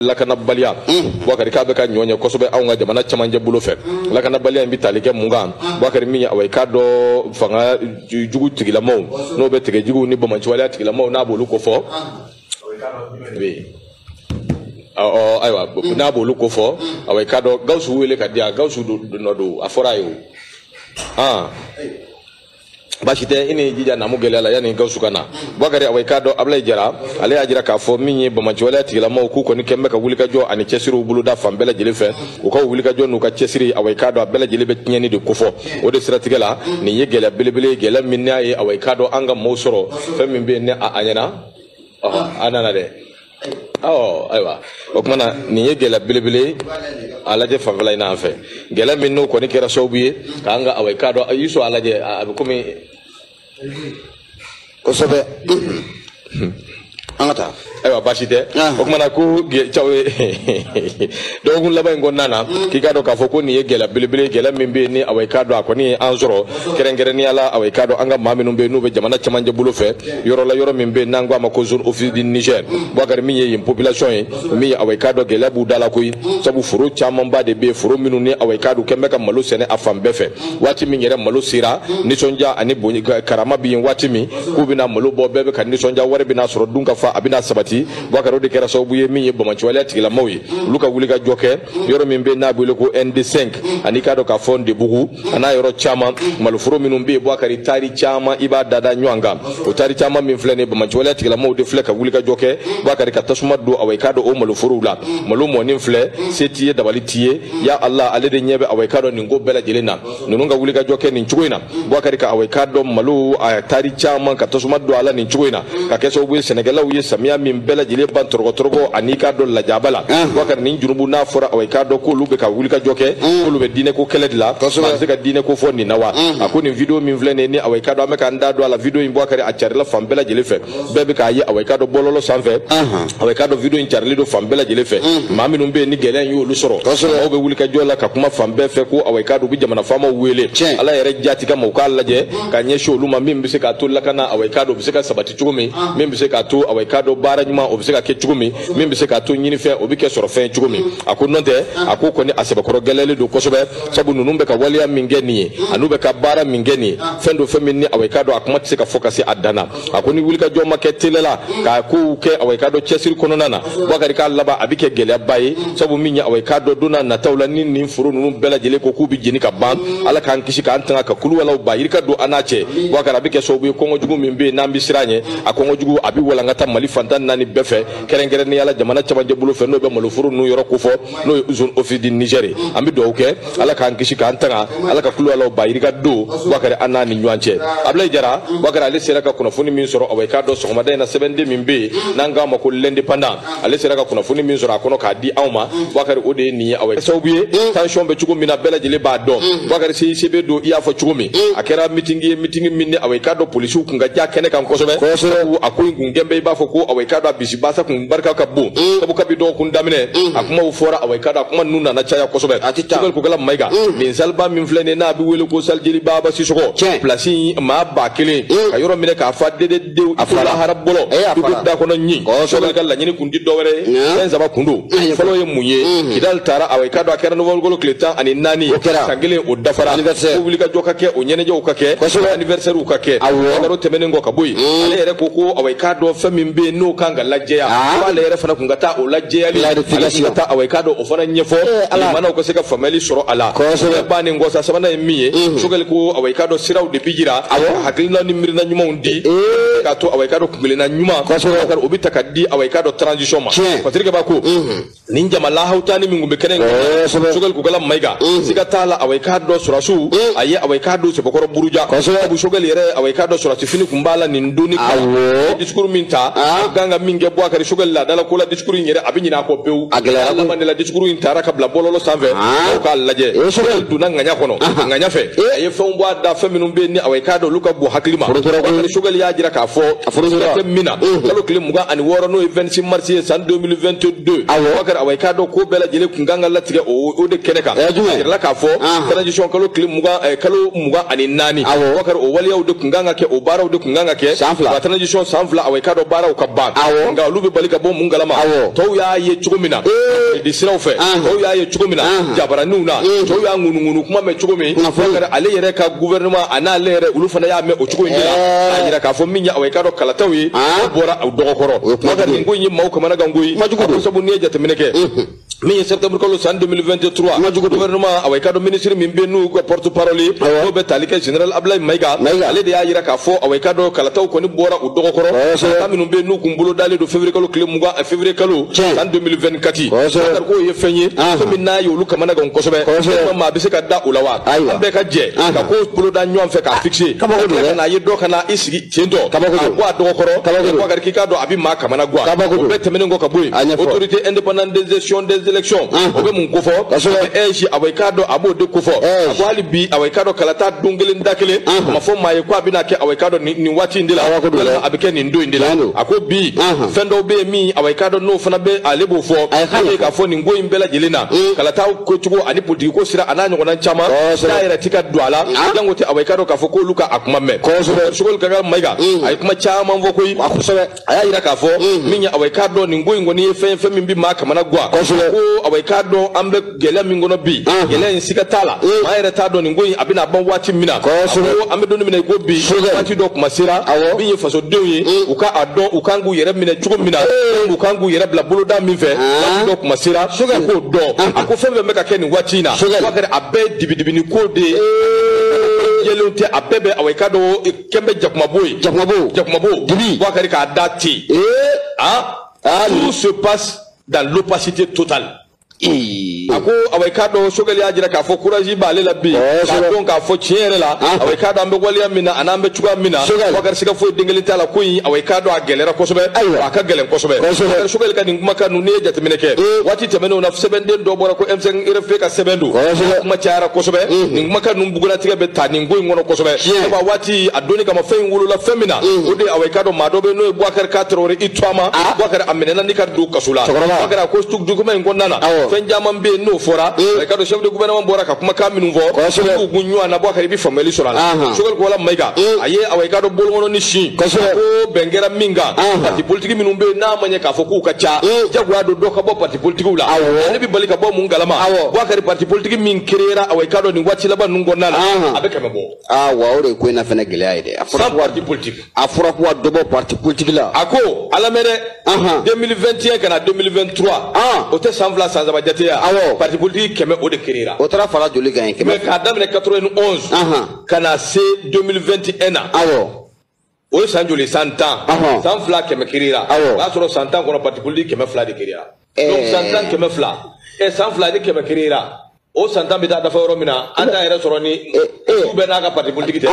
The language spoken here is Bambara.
lakanabaliya bubakari k'a bɛ ka bonya kosɛbɛ anw ka jamana cɛmancɛ bolo fɛ lakanabaliya in bɛ tali kɛ mun kan bubakari min ye awa i k'a dɔn fanga jugu tigilamaw n'o bɛ tigɛjuguw ni banbaanciwaleya tigilamaw n'a b'olu kofɔ ayiwa n'a b'olu kofɔ awa i k'a dɔn gawusu wele ka di yan gawusu nɔ don a fɔra a ye o baasi tɛ i ni jija namu gɛlɛya la yanni gawusu ka na bubakari awa i k'a dɔn abulayi jara ale y'a jira k'a fɔ min ye banbaanciwaleya tigilamaw k'u kɔni kɛn bɛ ka wulikajɔ ani cɛsiriw boloda fan bɛɛ lajɛlen fɛ u ka wulikajɔ n'u ka cɛsiri awa i k'a dɔn a bɛɛ lajɛlen bɛ tiɲɛni de kofɔ o de siratigɛ la nin ye gɛlɛya belebele gɛlɛya min n'a ye awa i k'a dɔn an ka maaw sɔrɔ fɛn min bɛ yen ne a ɲɛna a nana dɛ ɔɔ ayiwa o tuma na nin ye gɛlɛya belebele ye a lajɛ fanfɛla in na an fɛ gɛlɛya min n'o kɔni kɛra sababu ye k'an ka awa i k'a dɔn i sɔn a lajɛ a bɛ komi. kosɛbɛ an ka taa. ayiwa baasi tɛ o tuma na ko caw ye dɔgɔkun laban in kɔnɔna na mm. k'i k'a dɔn k'a fɔ ko nin ye gɛlɛya belebele gɛlɛya min bɛ yen ni awa i k'a dɔn a kɔni ye an sɔrɔ kɛrɛnkɛrɛnnenya la awa i k'a dɔn an ka maa minnu bɛ yen n'u bɛ jamana cɛmancɛ bolo fɛ yɔrɔ la yɔrɔ min bɛ n'an ko a ma ko zone office du niger bubakari min ye yen population ye min ye awa i k'a dɔn gɛlɛya b'u da la koyi sabu foro camanba de bɛ yen foro minnu ni awa i k'a dɔn kɛn bɛ ka malo sɛnɛ a fan bɛɛ fɛ waati min yɛrɛ malo sera nisɔndiya ani bonya karama bɛ yen waati min k'u bɛna malo bɔ bɛɛ bɛ ka nisɔndiya wari bɛna sɔrɔ dunkafa a bɛna sabati bubakari o de kɛra sababu ye min ye banbaanciwaleya tigilamaw ye olu ka wulikajɔ kɛ yɔrɔ min bɛ n'a bɛ wele ko nd5 an'i k'a dɔn k'a fɔ ndebugu a n'a yɔrɔ caman maloforo minnu bɛ yen bubakari taari caman i b'a dada ɲɔgɔn kan o taari caman min filɛ nin banbaanciwaleya tigilamaw de filɛ ka wulikajɔ kɛ bubakari ka tasuma don awa i k'a dɔn o maloforow la malo mɔni filɛ se t'i ye dabali t'i ye ya ala ale de ɲɛ bɛ awa i k'a dɔn nin ko bɛɛ lajɛlen na ninnu ka wulikajɔ kɛ nin cogo in na bubakari ka awa i k'a dɔn malo a taari caman ka tasuma don a la nin cogo in na ka kɛ sababu ye sɛnɛkɛlaw ye samiya min bɛɛ lajɛlen ban tɔɔrɔko tɔɔrɔko an'i k'a dɔn lajaba la bubakari nin junubu n'a fɔra awa i k'a dɔn k'olu bɛ ka wulikajɔ kɛ k'olu bɛ diinɛko kɛlɛ de la an se ka diinɛko fɔ nin na wa a ko nin video min filɛ nin ye ni awa i k'a dɔn an bɛ k'an da don a la video in bubakari a carila fan bɛɛ lajɛlen fɛ bɛɛ bɛ k'a ye awa i k'a dɔn bɔlɔlɔ sanfɛ awa i k'a dɔn video in carili don fan bɛɛ lajɛlen fɛ maa minnu bɛ yen ni gɛlɛya in y'olu sɔrɔ u bɛ wulikajɔ la ka kuma fan bɛɛ fɛ ko awa i k'a dɔn u bɛ jamana faamaw wele ala yɛrɛ jaati kama u k'a lajɛ ka ɲɛsin olu ma min bɛ se k'a to lakana awa i k'a dɔn o bɛ se ka sabati cogo min ah. min bɛ se k'a to awa i k'a dɔn baara ɲuman o bɛ se ka kɛ cogo min min bɛ se k'a to ɲinifɛn o bɛ kɛ sɔrɔfɛn cogo min mm. a ko n'o tɛ ah. a ko kɔni a sɛbɛkɔrɔ gɛlɛyalen don kosɛbɛ sabu ninnu bɛ ka waleya min kɛ nin ye mm. an'u bɛ ka baara min kɛ nin ye ah. fɛn don fɛn min ni awa i k'a dɔn a kuma tɛ se ka fɔ ka se a dan na a ko ni wulikajɔ ma kɛ teliya la k'a kow kɛ awa i k'a dɔn cɛsiri kɔnɔna na bakari k'a laban a bɛ kɛ gɛlɛyaba ye sabu min ye awa i k'a dɔn don nataw la ni nin foro ninnu bɛɛ lajɛlen ko k'u bɛ jeni ka ban ala k'an kisi k'an tanga ka kuluwalaw ba yirika don an n'a cɛ bakari a bɛ kɛ sababu ye kɔngɔ jugu min bɛ yen n'an bɛ siran ɲɛ a kɔngɔ jugu a bɛ walankata mali fantan naani bɛɛ fɛ kɛrɛnkɛrɛnnenya la jamana cɛmancɛ bolo fɛ n'o bɛ maloforo ninnu yɔrɔ kofɔ n'o ye zone office du niger ye an bɛ dugawu kɛ ala k'an kisi k'an tanga ala ka kuluwalaw ba yirika don bakari an n'a ni ɲɔgɔn cɛ ablayi jara bakari ale sera ka kunnafoni min sɔrɔ awa i k'a dɔn sɔgɔmada in na sɛbɛnden min bɛ yen n'an k'a ma ko l'indépendant ale sera ka kunnafoni min sɔrɔ a kɔnɔ k'a di anw ma bakari o de ye nin ye awa sababu ye tension bɛ cogo min na bɛɛ lajɛlen b'a dɔn bakari cicb don i y'a fɔ cogo min a kɛra mitingi ye mitingi min ni awa i k'a dɔn polisiw kun ka ca kɛnɛ kan kosɛbɛ a ko in kun kɛlen bɛ i b'a fɔ ko awa i k'a dɔn a bisi basa kun barika ka bon mm. sabu kabi dɔgɔkun daminɛ mm. a kumaw fɔra awa i k'a dɔn a kuma ninnu nana caya kosɛbɛ a ti ta sogɛli kokala mayiga mm. nin salle ba min filɛ nin n'a bɛ wele ko salle jeli baba sisɔkɔ pilasi maa ba kelen ka yɔrɔ minɛ k'a fa dededenw a fara hara bɔlɔ dugu da kɔnɔ ɲi sogɛli ka laɲini kun tɛ dɔwɛrɛ ye fɛn saba kun don fɔlɔ ye mun ye mm-hmm. kidali tara awa i k'a dɔn a kɛra nowanburukalo tile tan ani naani san kelen o dafara ko wulikajɔ ka kɛ o ɲɛnajɛw ka kɛ anniversaire ka kɛ nka o tɛmɛnen kɔ ka bɔ yen ale yɛrɛ ko ko k'a dɔn fɛn min bɛ yen n'o kan ka lajɛya ah. k'ale yɛrɛ fana kun ka taa o lajɛyali ale kun ka taa awɔ i k'a dɔn o fana ɲɛfɔ eh, jamana ka se ka faamuyali sɔrɔ a la kosɛbɛ bannen kɔ sa sabanan ye min ye mhm. sogɛli ko awɔ i k'a dɔn siraw de bɛ jira ka hakilina ni miirina ɲumanw di eh. k'a to awɔ i k'a dɔn kuntilenna ɲuman o bɛ ta ka di awɔ i k'a dɔn transition ma Patirikeba ko mhm. nin jama lahawutani min kun bɛ kɛnɛ in kan sogɛli kokala mayiga siga t'a la awɔ i k'a dɔn sɔrɔdasiw a ye awɔ i k'a dɔn sɛbɛkɔrɔ buruja sabu sogɛli yɛrɛ awɔ i k'a dɔn sɔrɔdasi fini kun b'a la nin donni kama disikuru min ta a kan ka min kɛ bon bakari sogɛli laadalako la disikuru in yɛrɛ a bɛ ɲinɛ a kɔ pewu a gɛlɛya laban de la disikuru in tara ka bila bɔlɔlɔ sanfɛ aw k'a lajɛ sogɛli donna ŋaɲa kɔnɔ ŋaɲa fɛ a ye fɛnw bɔ a da fɛn minnu bɛ yen ni awɔ i k'a dɔn olu ka bon hakili ma sogɛli y'a jira k'a fɔ a tɛ min na kalo tile mugan ani wɔɔrɔ n'o ye 26 mars ye san 2022 bakari awa i k'a dɔn ko bɛɛ lajɛlen kun kan ka latigɛ o de kɛnɛ kan a yirala k'a fɔ transition kalo tile mugan eh, kalo mugan ani naani bakari o waleyaw de kun kan ka kɛ o baaraw de kun kan ka kɛ san fila transition san fila awa i k'a dɔn baaraw ka ban nka olu bɛ bali ka bɔ mun kalama tɔw y'a ye cogo min na di siraw fɛ tɔw y'a ye cogo min na jabaraninw na tɔw y'a ŋunuŋunu kuma mɛn cogo min ale yɛrɛ ka gouvernement a n'ale yɛrɛ olu fana y'a mɛn o cogo in de la eh. a yira k'a fɔ min ye awa i k'a dɔn kalataw ye ah. o bɔra u dɔgɔ kɔrɔ bakari nin ko in ye maaw kamanagan ko ye ko sabu n'i ye jateminɛ kɛ min ye septembre kalo san 2023 gouvernement awa i k'a dɔn minisiri min bɛ n'u ka porte parole ye n'o bɛ tali kɛ général abdulayi mayiga ale de y'a jira k'a fɔ awa i k'a dɔn kalataw kɔni bɔra dɔgɔ kɔrɔ kalata minnu bɛ n'u kun bolodalen don février kalo tile mugan eh, février kalo san 2024 kari k'o ye fɛn ye fɛn min n'a ye olu kamanagan kosɛbɛ maa bɛ se ka da o la wa an bɛɛ ka jɛ ka ko boloda ɲɔgɔn fɛ k'a ah, fixer ka na a ye dɔ ka na i sigi ten tɔ ka bɔ a dɔgɔ kɔrɔ Boubacar k'i k'a dɔn a bɛ maa kamanagwan o bɛɛ tɛmɛnen kɔ ka bɔ yen autorité indépendante des gestions des élections o bɛ mun kofɔ AIGE awa i k'a dɔn a b'o de kofɔ a ko hali bi awa i k'a dɔn kalata don kelen da kelen a ma fɔ maa ye ko a bɛna kɛ awa i k'a dɔn nin waati in de la walima a bɛ kɛ nin don in de la a ko bi fɛn dɔw bɛ yen min awa i k'a dɔn n'o fana bɛ ale b'o fɔ n'o k'a fɔ nin ko in bɛɛ lajɛlen na mm. kalata ko cogo ani politiki ko sira an'a ɲɔgɔnna caman da yɛrɛ ti ka don a la janko tɛ awa i k'a dɔn k'a fɔ k'olu ka a kuma mɛn kosɛbɛ Sogɛli Kokala Mayiga mm. a ye kuma caman fɔ koyi kosɛbɛ a y'a yira k'a fɔ mhm. min ye awa i k'a dɔn nin ko in kɔni ye fɛn fɛn min bɛ maa kamanagwan ko awa i k'a dɔn an bɛ gɛlɛya min kɔnɔ bi mhm. gɛlɛya in siga t'a la mhm. maa yɛrɛ t'a dɔn nin ko in a bɛna ban waati min na ko an bɛ don min na i ko bi waati dɔ kuma sera min ye fasodenw ye u ka a dɔn u kan k'u yɛrɛ minɛ cogo min na u kan k'u yɛrɛ bila boloda min fɛ waati dɔ kuma sera u k'o dɔn a ko fɛn fɛn bɛ ka kɛ nin waati in na a bɛɛ ye dibidibini ko de ye jɛlen tɛ a bɛɛ bɛ awa i k'a dɔn kɛn bɛ jakumabo ye jakumabo jakumabo dibi wakari k'a da ten ee ah tout se passe dans l'opacité totale a ko awa i k'a dɔn sogɛli y'a jira k'a fɔ courage b'ale la bi k'a dɔn k'a fɔ tiɲɛ yɛrɛ la awa i k'a dɔn an bɛ waleya min na an'an bɛ cogoya min na wakari siga foyi den kelen t'a la ko in awa i k'a dɔn a gɛlɛyara kosɛbɛ a ka gɛlɛn kosɛbɛ wakari sogɛli ka nin kumakan ninnu n'i ye jateminɛ kɛ waati tɛmɛnenw na sɛbɛnden dɔ bɔra ko M5 RFP ka sɛbɛn don kuma cayara kosɛbɛ nin kumakan ninnu bugunnatigɛ bɛ ta nin ko in kɔnɔ kosɛbɛ sabu a waati a doni kama fɛn in wolola fɛn min na mm. o de awa i k'a dɔn maa dɔ bɛ n'o ye Boubacar K. Traoré i tuama ah. Boubacar a minɛna ni ka don kaso la Boubacar a ko document in kɔnɔna na fɛn caman bɛ yen n'o fɔra mm. i k'a dɔn chef de gouvernement bɔra ka kumakan minnu fɔ k'u kun ɲɔgɔn na Boubacar i bɛ faamuyali sɔrɔ a la Sogɛli Kokala Mayiga mm. a ye awa i k'a dɔn bolokɔnin sin ko bɛn kɛra min kan parti politique minnu bɛ yen n'a ma ɲɛ k'a fɔ k'u ka ca jagoya don dɔ ka bɔ parti politikiw la awɔ ale bɛ bali ka bɔ mun kalama awɔ Bouakari parti politique min créera awa i k'a dɔn nin waati laban ninnu kɔnɔna la a bɛ kɛmɛ bɔ awɔ o de ye ko in na fana gɛlɛya ye dɛ a fɔra ko parti politique a fɔra ko ka dɔ bɔ parti politique la a ko a lamɛn dɛ 2021 ka na 2023 o tɛ san fila san saba jate ya awɔ parti politique kɛmɛ o de créera o taara fara joli kan yen kɛmɛ mais k'a daminɛ 91 ka na se 2021 na awɔ o ye san joli san tan san fila kɛmɛ créera o y'a sɔrɔ san tan kɔnɔ parti politique kɛmɛ fila de créera eh. donc san tan kɛmɛ fila ɛ eh, san fila de kɛmɛ créera o san tan bɛ taa dafa yɔrɔ min na an t'a yɛrɛ sɔrɔ ni eh, du bɛɛ n'a ka parti politique tɛ